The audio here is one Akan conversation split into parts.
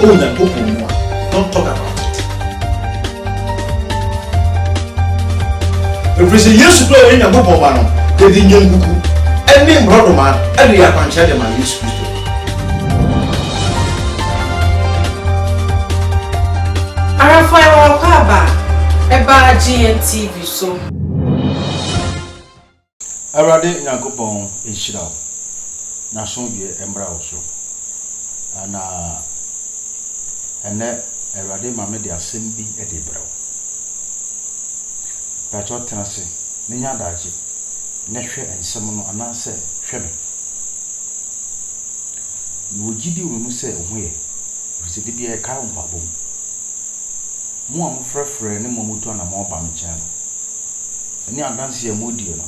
Oh Nyankopɔn mu a, don't talk about it. Ɛfiri sɛ Yesu berɛ a ɔyɛ Nyankopɔn ba no, yɛde nnwankuku ne mmorɔdoma de yɛ akwankyerɛ de ma Yesu Kristo. Arafo a ɛwɔ akwaaba a ɛbaa GNTV so. Awurade Nyankopɔn nhyira wo. N'asomdwoeɛ mmra wo so. Na ɛnnɛ Awurade ma me de asɛm bi de rebrɛ wo. Pakyɛ tena ase na nya adagye na hwɛ nsɛm no anaasɛ hwɛ me. Mewɔ gyidie wɔ me mu sɛ wo ho yɛ, ɛfiri sɛ da biara yɛkae wo mpaebɔ mu. Mo a mofrɛfrɛ ne mo a motu anammɔn ba me nkyɛn no. Ɛne adanseɛ a modie no,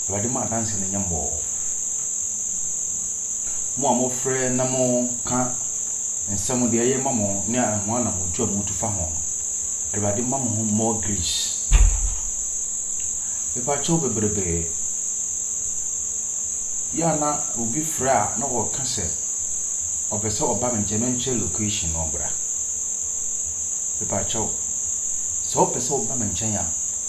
Awurade ma adanseɛ no nyɛ mmɔɔ. Mo a mofrɛ na moka nsɛm deɛ ɛyɛ ma mo ne ahoa na motu a motu fa ho no, Awurade ma mo ho more grace. Mepakyɛw bebrebe, yɛ a na obi frɛ a na ɔka sɛ ɔpɛ sɛ ɔba me nkyɛn menkyerɛ location na ɔbra. Mepakyɛw, sɛ wopɛ sɛ woba me nkyɛn a,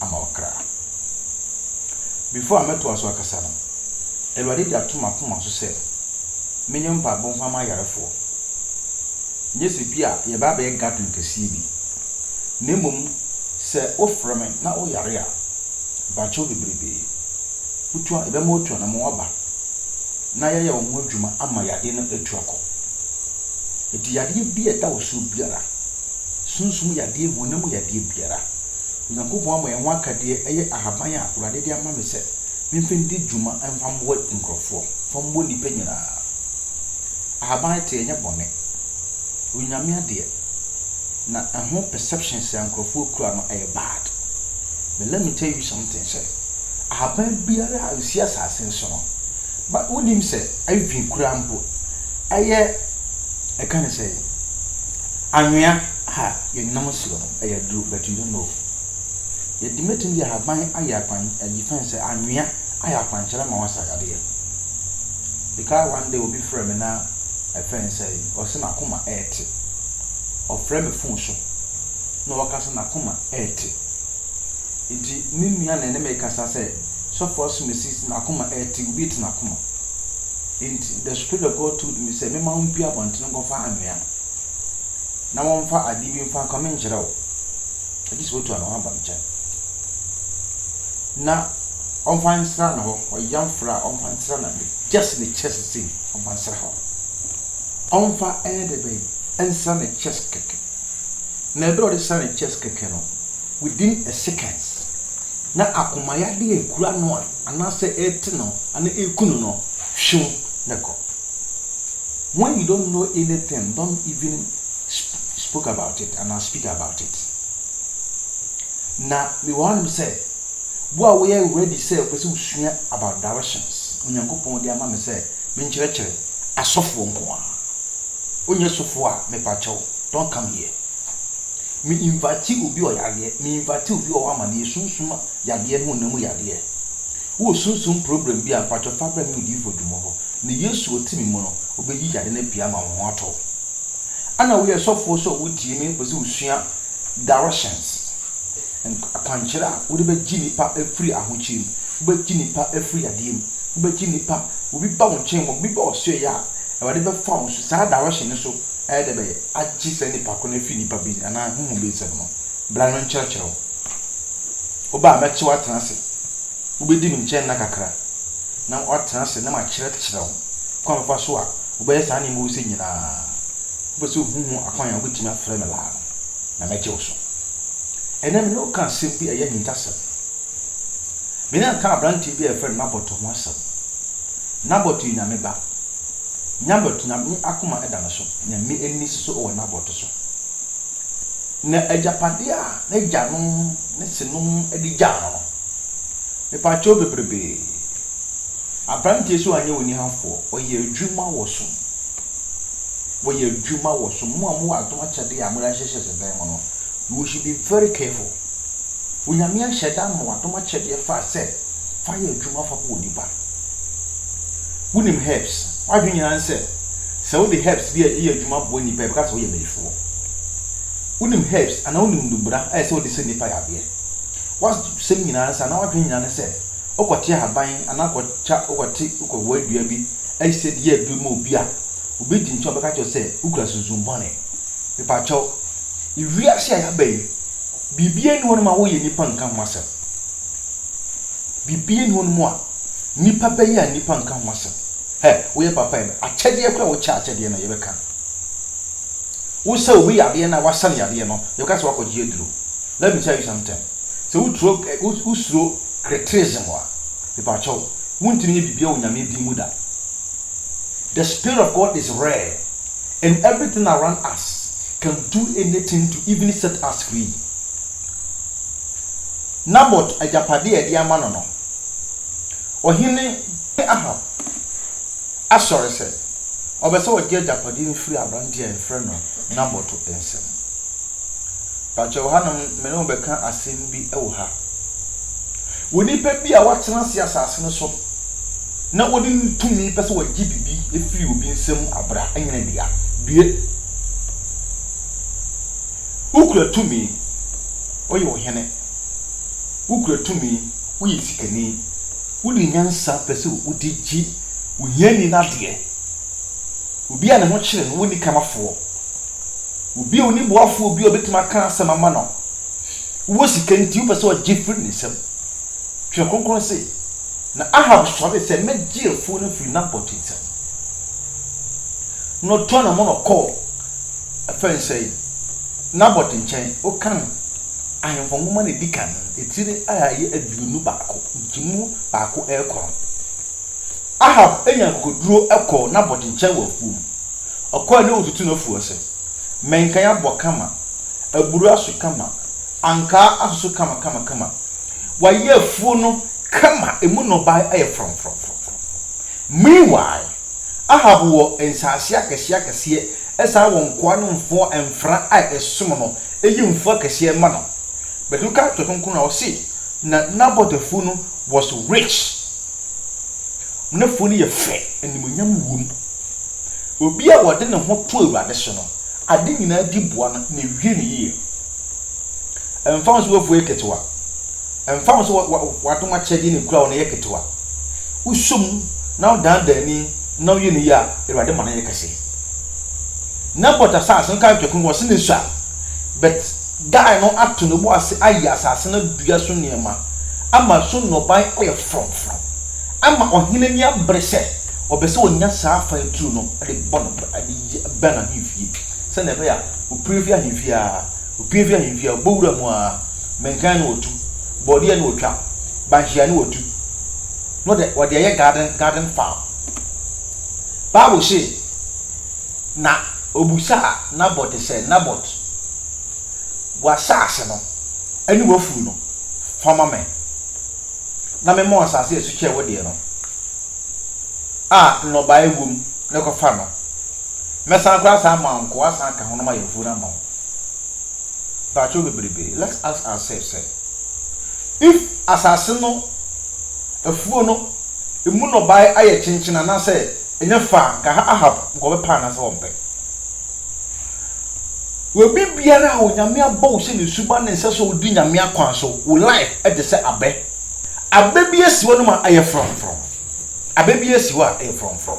ama ɔkra. Before a mɛtoa so akasa no, Awurade de ato m'akoma so sɛ menyɛ mpaebɔ mfa mma ayarefoɔ. Nyɛ sɛ bi a yɛbɛ abɛyɛ gathering kɛseɛ bi, na mmom sɛ wofrɛ me na woyare a, bakyɛw bebrebe, wotua, yɛbɛma woatu anamɔn aba na yɛayɛ wo ho adwuma ama yadeɛ no atu akɔ. Enti yadeɛ bi a ɛda wo soɔ biara, sunsum yadeɛ, honam yadeɛ biara, Onyankopɔn ama yɛn ho akadeɛ ɛyɛ ahaban a Awurade de ama me sɛ memfa ndi dwuma mfa mmoa nkurɔfoɔ, mfa mmɔ nnipa nyinaa. Ahaban te ɛnyɛ bɔne, ɛyɛ Onyame adeɛ na ɛho perceptions a nkurɔfoɔ kura no ɛyɛ bad. But let me tell you something sɛ ahaban biara a ɛsi asase no so no, ba wonim sɛ even koraa mpo ɛyɛ ɛka ne sɛn, anwea a yɛnam asuo no. Ɛyɛ duru but you don't know. Yɛdi mɛtumi de ahaban ayɛ akwan ayi fɛn sɛ anwea ayɛ akwankyerɛ ma wasa yadeɛ. Mekae one day obi frɛ me na ɛfɛn sɛ ɔse nakoma ɛɛte. Ɔfrɛ me phone so na ɔka sɛ nakoma ɛɛte. Nti me nua na ɛne me kasa sɛ sɔfo asumasi se nakoma ɛɛte obi te nakoma. Nti the spirit of God told me sɛ mema wo mpue abɔntene nkɔfa anwea. na wɔmfa ade bi mfa nkame nkyerɛ wo, gye sɛ wotua ne ho aba nkyɛn, na ɔmfa nsra ne hɔ, ɔyam fra a ɔmfa nsra na ne gyɛs ne kyɛs sei ɔmfa nsra hɔ. Ɔmfa ɛyɛ dɛ bɛn nsra ne kyɛs kɛkɛ. Na ɛberɛ a ɔde sra ne kyɛs kɛkɛ no, within a seconds, na akomayadeɛ a ɛkura no a anaasɛ ɛrete no anaa ɛreku no no hwew na ɛkɔ. When you don't know anything, don't even spoke about it and I speak about it. Na me wɔ hanom sɛ, wo a woyɛ ready sɛ wopɛ sɛ wosua about directions, Onyankopɔn de ama me sɛ menkyerɛkyerɛ asɔfoɔ nko ara. Wonyɛ sɔfoɔ a, mepa kyɛw, don't come here. Me invite obi ɔyadeɛ, me invite obi ɔwɔ amaneɛ, sunsum yadeɛ ne honam mu yadeɛ. Wowɔ sunsum problem bi a, mpatsɔ fa brɛ me odiyifo Dumo hɔ, na Yesu wɔ tsir mu no, obeyi yare no pii ama woho atɔ wo. Ana woyɛ sɔfo so a wotsie me epɛ dɛ wosua directions, nk akwankyerɛ a wode bɛgye nipa efri ahokyere mu, wobɛgye nipa efri yadeɛ mu, wobɛgye nipa, obi ba wo nkyɛn mu, obi ba ɔsoɛɛ a, Awurade bɛfa wo so, saa direction no so ɛyɛ dɛ bɛyɛ agye saa nipa koro no efri nipa bi anaa honhom bi nsam no, bra no nkyerɛkyerɛ wo. Woba a mɛkye wo atena ase. Wobedi me nkyɛn nna kakra, na woatena ase na makyerɛkyerɛ wo kwan a wobɛfa so a wobɛyɛ saa nneɛma wuse nyinaa. Wopɛ sɛ wuhu ho akwan a wubetumi afrɛ me laa no, na mɛgye wo so. Ɛnnɛ me ne wo ka asɛm bi a ɛyɛ ahintasɛm. Me ne aka aberante bi a yɛfrɛ no Nabot ho asɛm. Nabot yɛ Nyame ba. Nabot, Nyame akoma da no so. Nyame ani si so wɔ Nabot so. Na agyapadeɛ a n'agyanom ne senom de gyaa no no, mepakyɛw bebrebe. Aberanteɛ sɛ ɔanyɛ onihafoɔ, ɔyɛ adwuma wɔ so. Wɔyɛ adwuma wɔ so. Mo a mowɔ adom akyɛdeɛ a mode ahyehyɛ sɛ dan mu no, you should be very careful. Onyame ahyɛ da ama w'adom akyɛdeɛ fa sɛ fa yɛ adwuma fa bɔ onipa. Wonim herbs? W'adwene nyinaa ne sɛ. Sɛ wode herbs bi yɛ adwuma boa nnipa a, yɛbɛka sɛ woyɛ bayifoɔ. Wonim herbs anaa wonim nnubra a ɛsɛ sɛ wode sɛ nnipa yadeɛ. W'asɛm nyinaa ne sɛ anaa w'adwene nyinaa ne sɛ wokɔte ahaban anaa wokɔtwa wokɔte wokɔwoa dua bi ayi sɛ de yɛ aduro ma obi a, obi di nkyɛn a ɔbɛka kyerɛ sɛ wokura sunsum bɔne. Mepakyɛw, wiase a yɛaba yi, biribiara nni hɔnom a woyɛ nnipa nka ho asɛm. Biribiara nni hɔnom a Nnipa bɛyɛ a nnipa nka ho asɛm. Hɛ, woyɛ papa yɛ me akyɛdeɛ koraa a wokyɛ akyɛdeɛ no yɛbɛka. Wo sɛ obi yadeɛ no a wasa no yadeɛ no yɛbɛka sɛ wakɔgye aduro. Let me tell you something. Sɛ woturo wosuro criticism a, mepakyɛw, wontumi nyɛ biribiara wɔ Nyame din mu da. The spirit of God is rare and everything around us can do anything to even set us free. Nabot agyapade a ɛde ama no no, ɔhene Ahab asɔre sɛ ɔpɛ sɛ ɔgye agyapade no firi aberante a yɛfrɛ no Nabot nsam. Pakyɛ wɔ hanom me ne wo bɛka asɛm bi wɔ ha. Wɔ nipa bi a watena ase asase no so na wɔde ne tumi pɛ sɛ wɔgye biribi firi obi nsam abra nyina dua. Due. Wokura tumi, woyɛ ɔhene, wokura tumi, woyɛ sikani, wode nyansa pɛ sɛ wode gye ohiani no adeɛ, obi a ne ho kyere no, wonni kamafoɔ, obi a ɔni boafoɔ, obi a ɔbɛtumi aka asɛm ama no, wowɔ sika nti wopɛ sɛ ɔgye firi ne nsam. Twerɛ Kronkron se, na Ahab sɔre sɛ, mɛgye afuo no afiri Nabot nsam. Na ɔtɔɔ ne ho na ɔkɔɔ. Afei nso, Nabot nkyɛn, wokan Ahemfo Nwoma no a edi kan, etire a ɛyɛ aduonu baako, nkyemu baako rekɔ no. Ahab nyaa akokoduru kɔɔ Nabot nkyɛn wɔ afuom. Ɔkɔe na otutu n'afuw ase. Mmɛnkan abɔ kama, aburow aso kama, ankaa asoso kama kama kama. Wayɛ afuw no kama, emu nnɔbae ayɛ frɔmfrɔmfrɔmfrɔm. Meanwhile, Ahab wɔ nsaase akɛseɛ akɛseɛ, ɛsan wɔ nkoa no mfoɔ mfra a ɛsom no, ɛyi mfuo akɛseɛ ma no. But woka atwerɛ kronkron no a, ɔse, na Nabot afuo no was rich. N'afuo no yɛ fɛ, animuonyam wom. Obi a ɔde ne ho to Awurade so no, ade nyinaa di boa no, na ɛwie no yie. Ɛmfa ho sɛ w'afua yɛ ketewa, ɛmfa ho sɛ w'adom akyɛdeɛ na ɛkura wo no yɛ ketewa, wosɔ mu na wodandan ani na woyɛ no yie a, Awurade ma no yɛ kɛse. Nabot asase no kae twɛko, wɔse no sua, but guy no ato ne bo ase ayɛ asase no dua so nneɛma, ama so nnɔbae ayɛ frɔmfrɔm, ama ɔhene ani abere sɛ ɔbɛ sɛ ɔnya saa afan turo no de bɔ no bɛn ahemfie. sɛnea ɛbɛyɛ a opue fi ahemfi a, opue fi ahemfi a, ɔbɔ wura mu a, mmɛnkan na ɔtu, borɔdeɛ na ɔtwa, banhyia na ɔtu, na ɔde ɔde ayɛ garden garden farm. Bible se, na ɔbusaa Nabot sɛ, Nabot, w'asaase no ne w'afuo no, fa ma me, na mema wo asaase a ɛso kyɛ wo deɛ no a nnɔbaeɛ wom no, kɔfa no. Mɛsan koraa saa ma nko asan aka ho na mayɛ afuo no ama wo. Mpakyɛw bebrebe, let's ask ourselves sɛ, if asase no afuo no emu nnɔbae ayɛ kyenkyen anaasɛ ɛnyɛ fɛ a, nka Ahab nka ɔbɛpɛ anaasɛ ɔmpɛ? Obi biara a Onyame abɔ wo sɛ ne suban ne sɛ sɛ odi Nyame akwan so, wo life ɛte sɛ abɛ. Abɛ bi asi hɔ nom a ɛyɛ frɔmfrɔm. Abɛ bi asi hɔ a ɛyɛ frɔmfrɔm.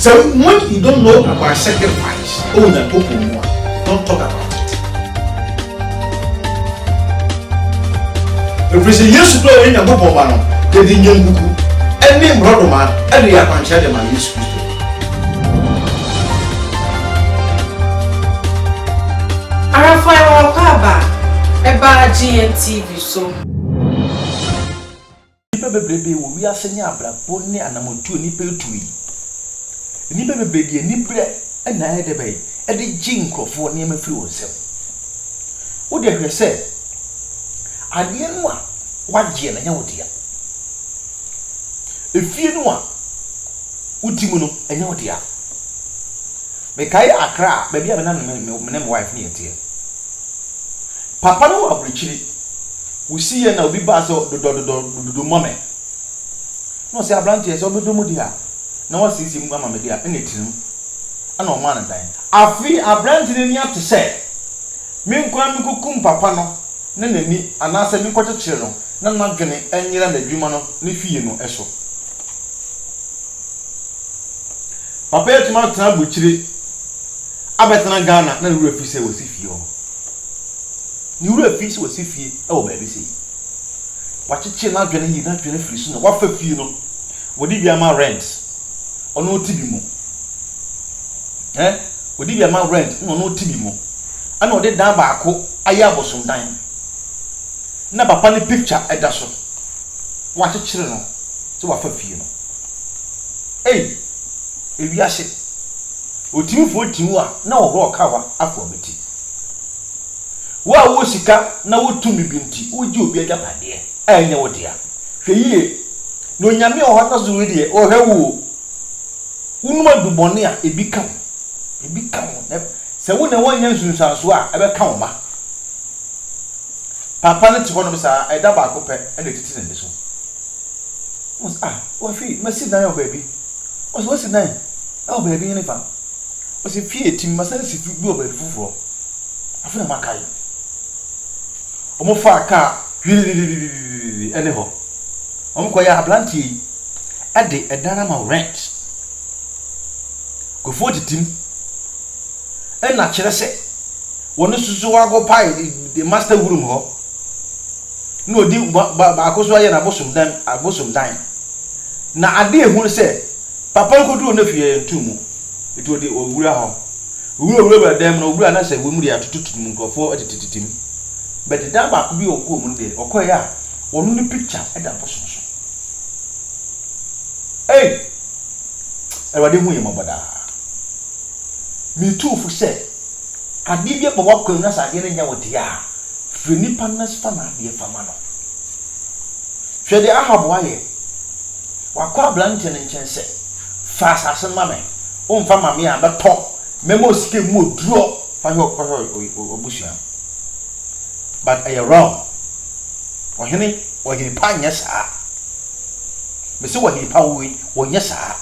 Sɛ when you don't know about sacrifice ɛwɔ Nyankopɔn mu a, don't talk about it. Ɛfiri sɛ Yesu kura ɔyɛ Nyankopɔn ba no, yɛde nnwankuku ɛne mmorɔdoma ɛde yɛ akwankyerɛ de ma Yesu Kristo. Arafo a ɛwɔ hɔ aba a ɛbaa GNTV so. Nnipa bebrebe wɔ wiase ne abrabɔ ne anammɔntuo nnipa atuo yi. Nnipa bebree de aniberɛ na ayɛ dɛ bɛn ɛde gye nkurɔfoɔ nneɛma firi wɔn nsam. Wo deɛ hwɛ sɛ adeɛ no a wagyeɛ no ɛnyɛ wo dea. Efie no a wote mu no ɛnyɛ wo dea. Mekae Accra baabi a me nam ne me wife ne yɛteɛ. Papa no wɔ aburokyire. Wosiiɛ na obi baa sɛ dodɔ dodɔ dodo ma me na ɔsɛ aberanteɛ sɛ ɔbɛdɔ mu deɛ a na wasiesie mu ama me deɛ a ɛna ɛtirim ɛna ɔmaa no dan. Afei aberanteɛ no ani ate sɛ me nko ara menkɔkum papa no ne n'ani anaasɛ menkɔkyekyere no na n'adwene anyera n'adwuma no ne fie no so. Papa yi atumi atena aburukyire abɛtena Ghana na ne werɛ afi sɛ wasi fie hɔ. Ne wura fii sɛ wasi fie wɔ baabi sei. Wakyekyere n'adwene yie, n'adwene afiri so na wafa fie no. Wɔde bi ama rent, ɔno ɔte bi mu. Eh, wɔde bi ama rent na ɔno ɔte bi mu. Ɛna ɔde dan baako ayɛ abosomdan. Na papa ne picture ɛda so. Wakyekyere no sɛ wafa fie no. Ei, ewiase. Ɔtumi fo tiw a na ɔhorɔ ɔkawa afoa bi. nti. Wo a wowɔ sika na wowɔ tumi bi nti, wogye obi agyapadeɛ a ɛnyɛ wo dea. Hwɛ yie, na Onyame wɔ hɔ na so wei deɛ, ɔhwɛ wo o. Wonom adu bɔne a, ebi ka wo. Ebi ka wo, na sɛ wo na woannya nsunsuansoɔ a, ɛbɛka wo mma. Papa no te hɔnom saa, ɛda baako pɛ na ɛtete n'ani so. Wɔn sɛ, ah, wɔhwɛ yi, masi dan wɔ baabi. Wɔn sɛ, wasi dan wɔ baabi henefa? Ɔsi fie a etim masan si fie bi wɔ baabi foforɔ. Afei na makae. Wɔfaa kaa hwiririririri ɛne hɔ. Wɔkɔyɛ abranteɛ yi ɛde ɛdan ama rent. Kofoɔ titim ɛna kyerɛ sɛ wɔne soso akopae the master room hɔ. Na ɔdi baako so ayɛ n'abosom dan abosom dan. Na adeɛ ehunu sɛ. Papa no kɔduruu ne fie yɛɛ ntom mu, enti ɔde owura hɔ. Owura wurawuraa dan mu na ɔwura a na sɛ wim deɛ atototo mu nkurɔfoɔ tetetetem. But dan baako bi a ɔkɔɔ mu no deɛ ɔkɔeɛ a ɔno ne picture da bosono so. Ei! Awurade hu yɛn mmɔbɔ daa. Metuu fo sɛ, adeɛ bi aba w'akwan mu na sɛ adeɛ no nyɛ wo dea a, frɛ nipa no na fa n'adeɛ fa ma no. Hwɛ deɛ Ahab ayɛ. Wakɔ aberanteɛ no nkyɛn sɛ, Fa asase no ma me, womfa mma me a, mɛtɔ, mɛma wo sika mu oduro. Fa hwɛ kɔhwɛ w'abusua no. But ɛyɛ wrong. Ɔhene, ɔhene pa nyɛ saa. Mese ɔhene pa wei, wɔnyɛ saa.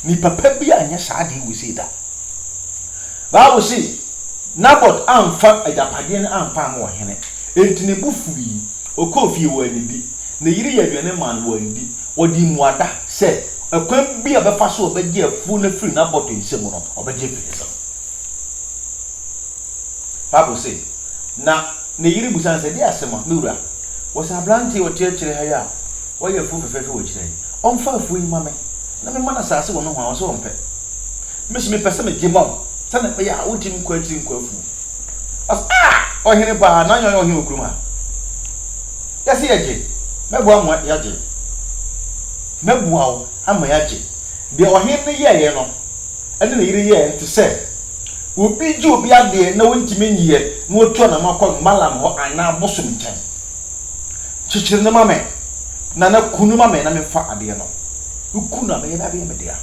Nipa pa bi a nyɛ saa deɛ wei sei da. Bible se, Nabot amfa agyapadeɛ no ampa ama ɔhene, enti ne bo fuui. Ɔkɔɔ fie, wɔannidi. Ne yere yɛɛ aduane maa no, wɔanndi. Wɔdii mmuada sɛ ɛkwan biara a ɔbɛfa so a ɔbɛgye afuo no afiri n'abɔto nsa mu no, ɔbɛgye afiri ne nsam. Bible se, Na ne yere bisa no sɛ, Deɛ asɛm a, me wura, wɔ sɛ aberanteɛ a ɔte akyire ha yi a wayɛ afuo fɛfɛɛfɛ wɔ akyire ha yi, ɔmfa afuo yi mma me, na memma no asase wɔ nohoa? Ɔse ɔmpɛ. Me nso mepɛ sɛ megye ma wo, sɛdeɛ ɛbɛyɛ a wontumi nkɔ akyiri nkɔ afuo. Ɔsaa ɔhene paa na nyɛ ɔhene wɔ kurom ha yɛse yɛgye mɛboa mo yɛgye mɛboa wo ama yɛagye deɛ ɔhene no yɛeɛ no ɛne ne yere yɛɛ nte sɛ obi gye obi adeɛ na wontumi nyiɛ na watu anamo akɔ mmalam hɔ anaa bosom nkyɛn kyekyere no ma me na na ku no ma me na memfa adeɛ no ku no a mɛyɛ bɛabɛyɛ me dea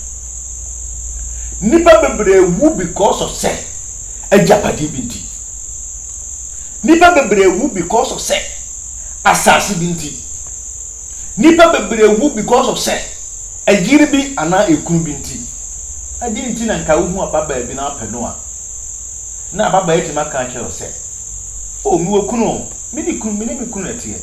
nipa bebree wu because of sɛ agyapade bi nti. Nnipa bebree wu because of sɛ asase bi nti. Nnipa bebree wu because of sɛ ɛyere bi anaa ɛkunu bi nti. Ɛdeɛn nti na nka wohu ababaa bi na wapɛ no a, na ababaa atumi aka akyerɛ wo sɛ, oh mewɔ kunu o, me ne kunu, me ne me kunu na ɛteɛ.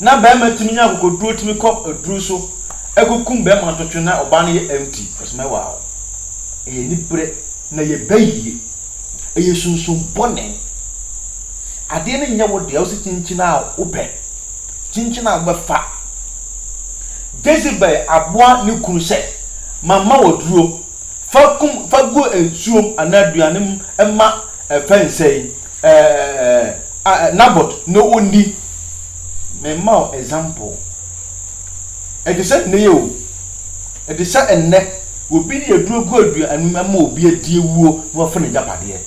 Na bɛrima tumi nya akokoduro tumi kɔ aduro so ɛkɔkum bɛrima ntotwe na ɔbaa no yɛ empty, ɔsɛ mɛwaa wo. Ɛyɛ aniberɛ na yɛba yie. Ɛyɛ sunsum bɔne. Adeɛ no nyɛ wo dea wo se kyinkyin a wopɛ, kyinkyin a wobɛfa. Jezebel aboa ne kunu sɛ, Mama wo aduro, fa kum, fa gu nsuom anaa aduane mu ma ɛfɛ nsɛ yi, ɛɛ, Nabot na ɔnni. Mema wo example. Ɛte sɛ nnɛ yi o. Ɛte sɛ ɛnnɛ obi de aduro gu aduan anum ama obi adi awuo na wafa n'agyapadeɛ.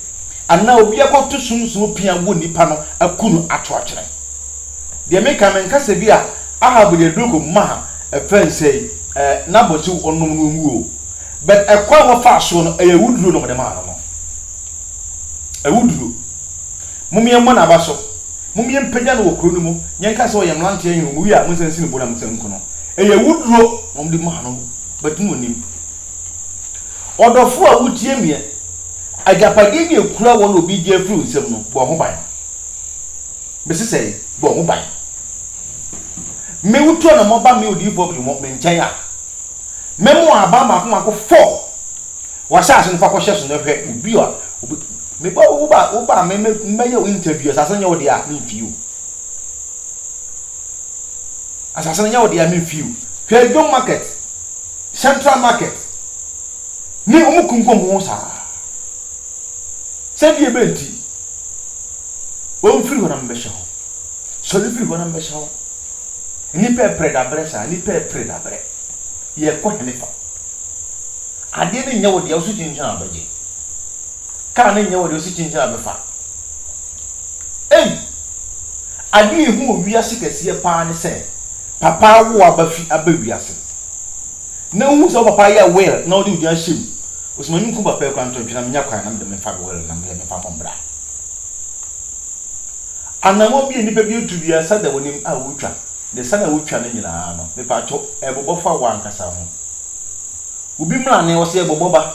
Anaa obi akɔto sunsum pea wɔ nipa no aku no ato akyene. Deɛ meka menka sɛ bi a Ahab de aduro kɔ maa ɛfɛ nsɛe ɛɛ Nabot sɛ ɔnom na ɔnwu o. But ɛkwan a wɔfaa soɔ no ɛyɛ awuduro na wɔde maa no no. Awuduro. Mom yɛmmɔ n'aba so. Mom yɛmpagya no wɔ kuro no mu. Yɛnka sɛ ɔyɛ mmeranteɛ hene, wɔwie a monsan nsi no bo na monsan nku no. Ɛyɛ awuduro na wɔde maa no but na ɔnim. Ɔdɔfoɔ a wotie meɛ, agyapadeɛ bi a ɛkura wɔ na obi gye afiri wo nsam no, bɔ ho ban. Mese sɛe, bɔ ho ban. Me wotu anamɔ ba me odiyifoɔ afiri hɔ me nkyɛn a, mɛma wɔn aban mmaako mmaako four. W'asaase no fa kɔhyɛ so na hwɛ obi a obi meba wo ba wo ba me mɛyɛ wo interview asaase no nyɛ wo deɛ a memfii wo. Asase no nyɛ wo dea me mfi o. Hwɛ Dwom market, central market ne ɔmo kunkum ɔmo ho saa. Sɛdeɛ bɛ nti wɔn firi hɔ na mbɛhyɛ hɔ. Sɔre firi hɔ na mbɛhyɛ hɔ. Nipa ɛpere dabrɛ saa nipa ɛpere dabrɛ. Yɛ kɔ hene fa. Adeɛ no nyɛ wo dea wo so kyinkyin a bɛgye. Car no nyɛ wo dea wo so kyinkyin a bɛfa. Ei! Ade a ehu wɔ wiase kɛseɛ paa ne sɛ papa awo w'aba fi aba wiase. Na wohu sɛ wo papa yɛ will na wode wo din ahyɛ mu. Wo sɛ m'ani nku papa yi koraa nto ntwene na menya kwan na mede memfa me will na meyɛ memfa mmɔ mmra. Anammɔn bi a nnipa bi atu biara sa da w'anim a wotwa. Ne sa no a wotwa no nyinaa no, mepaatwɔ, ɛrebobɔ fa w'ankasa ho. Obi mmrane, ɔse ɛrebobɔ ba.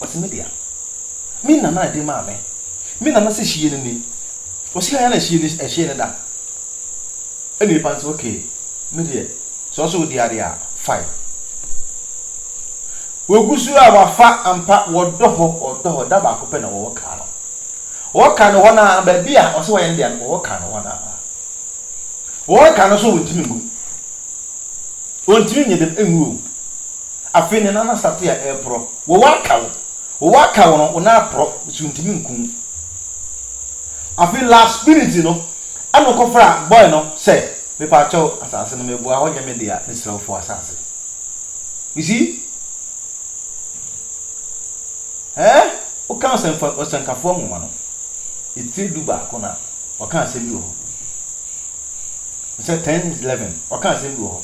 Ɔse me dea me na na de maa me me na na se hyie no ni ɔse yaya na hyie no ɛhyee no da ɛna epa nse ok me deɛ sɛ ɔse ode ade a fine wagu so a wafa ampa wɔdɔ hɔ wɔdɔ hɔ da baako pɛ na wɔwɔ kaa no wɔwɔ kaa no hɔ no a baabi a ɔse wɔyɛ no deɛ no wɔwɔ kaa no hɔ no a wɔwɔ kaa no so wɔntumi ngu wɔntumi nyɛ dɛm ngu o afei ne nana sate a ɛreporɔ Wo wa ka wo. Wo wa ka wo no, wo nan aporɔ, nso ntumi nku wo. Afei last minute no, ɛna ɔkɔfra boy no sɛ, mepa kyɛw, asase no meboa wo, ɔnyɛ me dea, mesrɛ wo fa w'asase. You see? Ɛɛ, woka ɔsɛnfa, ɔsɛnkafoɔ nwoma no, etire du baako no a, ɔka asɛm bi wɔ hɔ. Sɛ ten is eleven, ɔka asɛm bi wɔ hɔ.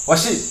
Ɔse,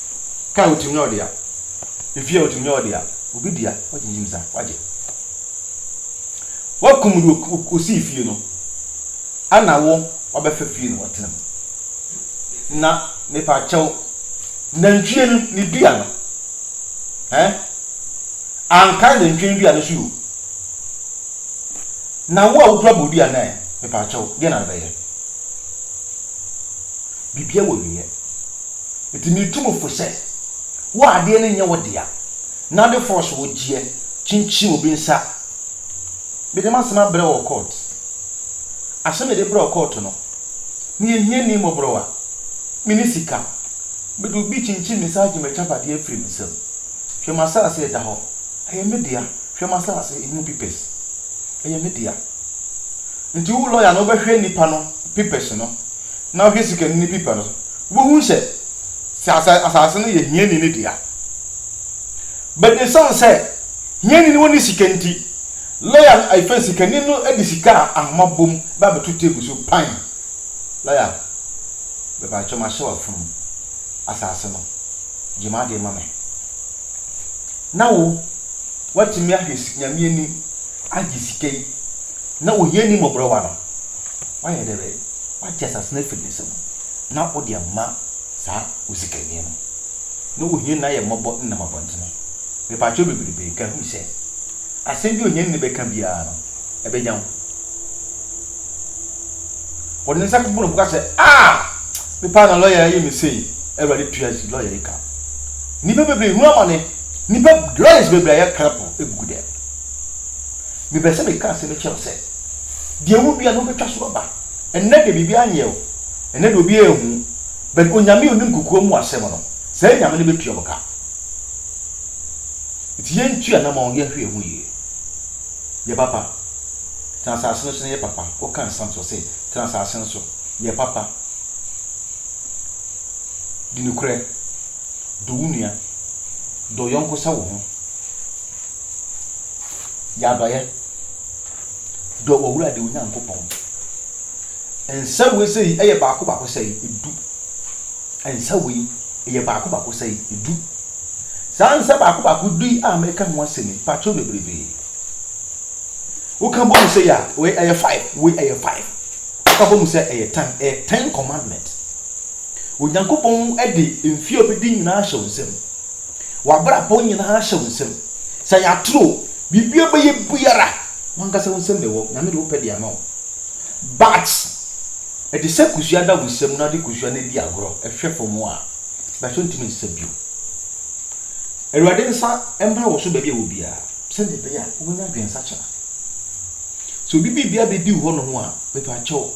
Kaa a otumi nya ɔde a, efie a otumi nya ɔde a, obi dea wagyingyim sa wagye. Wakum de osii fie no, ana wo wabɛfa fie na watena mu. Na mepa kyɛw, nantwie no ne dua no, eh, anka nantwie no dua no so yo. Na wo a wokura bodua no ɛ, mepa kyɛw, deɛ na wobɛyɛ? Bibia wɔ wieɛ. Enti metu mo fo sɛ, wo adeɛ no nyɛ wo dea, na wode force wo gyeɛ kyinkyin obi nsa. Mede m'asɛm abrɛ wo wɔ court. Asɛm a yɛde brɛ wo court no, meyɛ hiani mmɔborɔwa, menni sika. Mede obi kyinkyin me nsa agye m'agyapadeɛ afiri me nsam. Hwɛ m'asase a ɛda hɔ, ɛyɛ me dea. Hwɛ m'asase, emu papers, ɛyɛ me dea. Enti wo lawyer no, wobɛhwɛ nipa no papers no, na woahwɛ sikani no paper no, Wubehu sɛ, sɛ asase no yɛ hiani no dea. But esiane sɛ hiani no nni sika nti, lɔya no afei sikani no de sika a ahoma bom ba abɛto table so pan. Lɔya, mepakyɛw mahyɛ wo afunu mu. Asase no, gye m'ade ma me. Na wo, woatumi ahwɛ Nyame anim agye sika yi na ohiani mmɔborɔwa no, woayɛ dɛ bɛn? Woagye asase no afi ne nsam. na wode ama saa osikani no, na wohia n'ayɛmmɔbɔ nenam abɔntene. Mepakyɛw bebrebe nka hu sɛ, asɛm bi a ohiani no bɛka biara no, ɛbɛnya wo. Ɔde ne nsa to bo na ɔbɛka sɛ, Ah! Me paa na lɔya yi ayɛ me sei. Awurade tua si lɔya yi ka. Nnipa bebree rehu amane. Nnipa lawyers bebree ayɛ cripple agugu dɛm. Mebɛ sɛ meka asɛm yi kyerɛ wo sɛ, deɛ wodua no wobɛtwa so aba. Ɛnnɛ deɛ biribiara nyɛ o, ɛnnɛ deɛ obiara nhu, but Onyame a onim kokoa mu asɛm no, saa Nyame no bɛtua mo ka. Nti yɛntu anamɔn, yɛnhwɛ yɛn ho yie. Yɛ papa, tena asase no so na yɛ papa, woka nsɛm so ɔse tena asase no so, yɛ papa, di nokorɛ, dɔ wo nua, dɔ wo yɔnko sɛ wo ho, yɛ adɔeɛ. Dɔ w'Awurade wo Nyankopɔn. Nsa wei sɛ yi yɛ baako baako sɛ yi edu. Nsa wei yɛ baako baako sɛ yi edu. Saa nsa baako baako du yi a mɛka ho asɛm yi patro bebrebe. Woka bɔ mu sɛ yi a wei ɛyɛ five wei ɛyɛ five. Woka bɔ mu sɛ ɛyɛ ten ɛyɛ ten commandment. Onyankopɔn de mfie a obedi nyinaa ahyɛ wo nsam. W'abrabɔ nyinaa hyɛ wo nsam. Sɛ yɛ atoro o, biribi a bɛyɛ biara, w'ankasa wo nsam na ɛwɔ. Nyame de wo pɛ de ama wo. But, ɛde sɛ kusua da wo nsam na wode kusua no adi agorɔ, ɛhwɛ fam a, bɛso ntumi nsa bio. Awurade nsa mmra wo so baabi a ɛwɔ biara, sɛdeɛ ɛbɛyɛ a wobɛnya adwensakyera. Sɛ obi biribia bɛdi wo hɔ nom a, mepa kyɛw,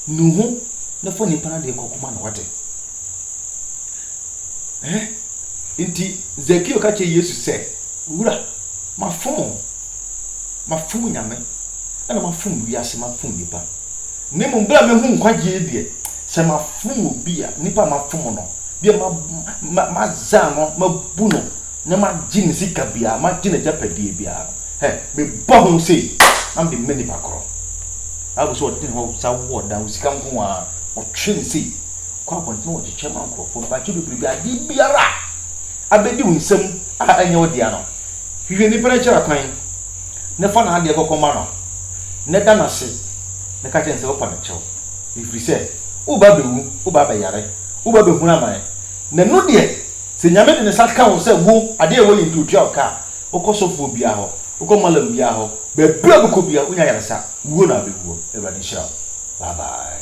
nu ho na fa nipa no adeɛ kɔ kɔma no, wate. Ɛhɛ nti Zakeo ka kyerɛ Yesu sɛ, Wura, mafom wo. Mafom Nyame, ɛna mafom wiase, mafom nnipa. Na mmom berɛ a mahu nkwagyeɛ deɛ, sɛ mafom obi a, nnipa a mafom no, bi a mazan no, mabu no, na magye ne sika biara, magye n'agyapadeɛ biara no, hɛ, mebɔ ho sei, na mede ma nnipa korɔ. Bible sɛ ɔde ne hɔ sa wɔ ɔdan, wo sika nko ara, ɔtwe ne sei. kɔ abɔnten wɔ kyekyɛ ma nkurɔfoɔ no bakye bebree bi adeɛ biara a abɛdi wo nsam a ɛnyɛ wo dea no hwehwɛ nipa no kyerɛ kwan na fa n'adeɛ kɔkɔ ma no na da no ase na ka kyerɛ no sɛ wopɛ no kyɛw ɛfiri sɛ woba abɛwu woba abɛyare woba abɛhunu amane na no deɛ sɛ nyame de ne sa ka wo sɛ wo adeɛ ɛwɔ yɛ nti otua wo ka a wokɔ sɔfoɔ biara hɔ wokɔ malam biara hɔ baabi a wobɛkɔ biara wonya yaresa wuo na abɛwuo awurade nhyira wo bye bye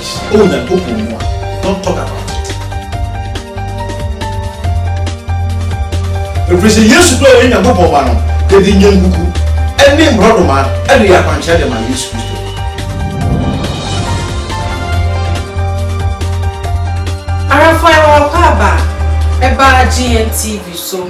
Hyira O Nyankopɔn mu a, don't talk about it. Ɛfiri sɛ Yesu berɛ a ɔyɛ Nyankopɔn ba no, yɛde nnwankuku ne mmorɔdoma de yɛ akwankyerɛ de ma Yesu Kristo. Arafai Waakwaaba ɛbaa GNTV so.